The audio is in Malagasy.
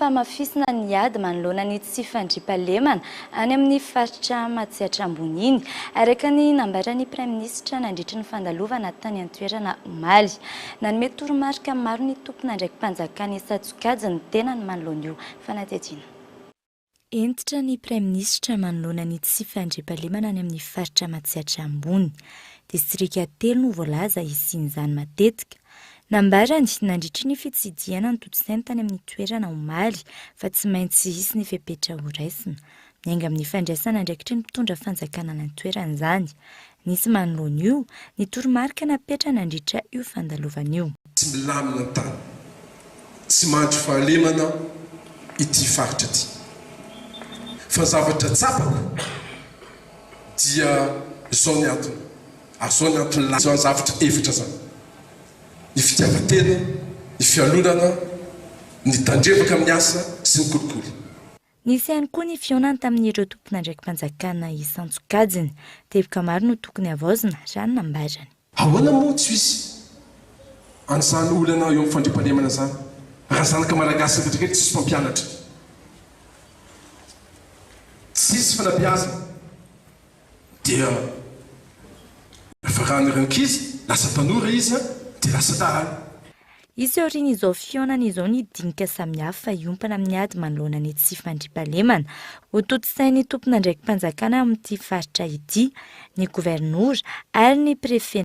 hamafisina ny ady manoloana ny tsy fandriampahalemana any amin'ny faritra Matsiatra Ambony iny, araka ny nambaran'ny praiminisitra nandritry ny fandalovana tany an-toerana omaly. Nanome toromarika maro ny tomponandraiki-panjakana hisatsokajy ny tenany manoloana io fanadihadiana. Hentitra ny praiminisitra manoloana ny tsy fandriampahalemana any amin'ny faritra Matsiatra Ambony. Distrika telo no voalaza hisian'izany matetika. Nambarany, nandritry ny fitsidihana ny totosainy tany amin'ny toerana omaly, fa tsy maintsy hisy ny fepetra horaisina. Miainga amin'ny fandraisana andraikitry ny mpitondra fanjakana any an-toerana izany. Nisy manoloana io, ny toromarika napetrany nandritra io fandalovana io. Tsy milamina ny tany. Tsy mandry fahalemana ity faritra ity. Fa ny zavatra tsapako dia izao ny antony. Azo any ampilaza izany zavatra efatra izany, ny fitiavan-tena, ny fialonana, ny tandrevaka amin'ny asa sy ny kolikoly. Nisy ihany koa ny fihaonany tamin'ireo tompon'andraiki-panjakana isan-tsokajiny. Teboka maro no tokony havaozina, raha ny nambarany. Ahoana moa tsy hisy an'izany olana eo amin'ny fandriampahalemana izany, raha zanaka malagasy rehetra rehetra tsisy mpampianatra, tsisy fanabeazana? Dia nafarana ireo ankizy, lasa tanora izy an, dia lasa dahalo. Hisy aorian'izao fihaonana izao ny dinika samihafa hiompana amin'ny ady manoloana ny tsy fandriampahalemana. Hotontosain'ny tompon'andraiki-panjakana amin'ity faritra ity, ny governora ary ny prefet.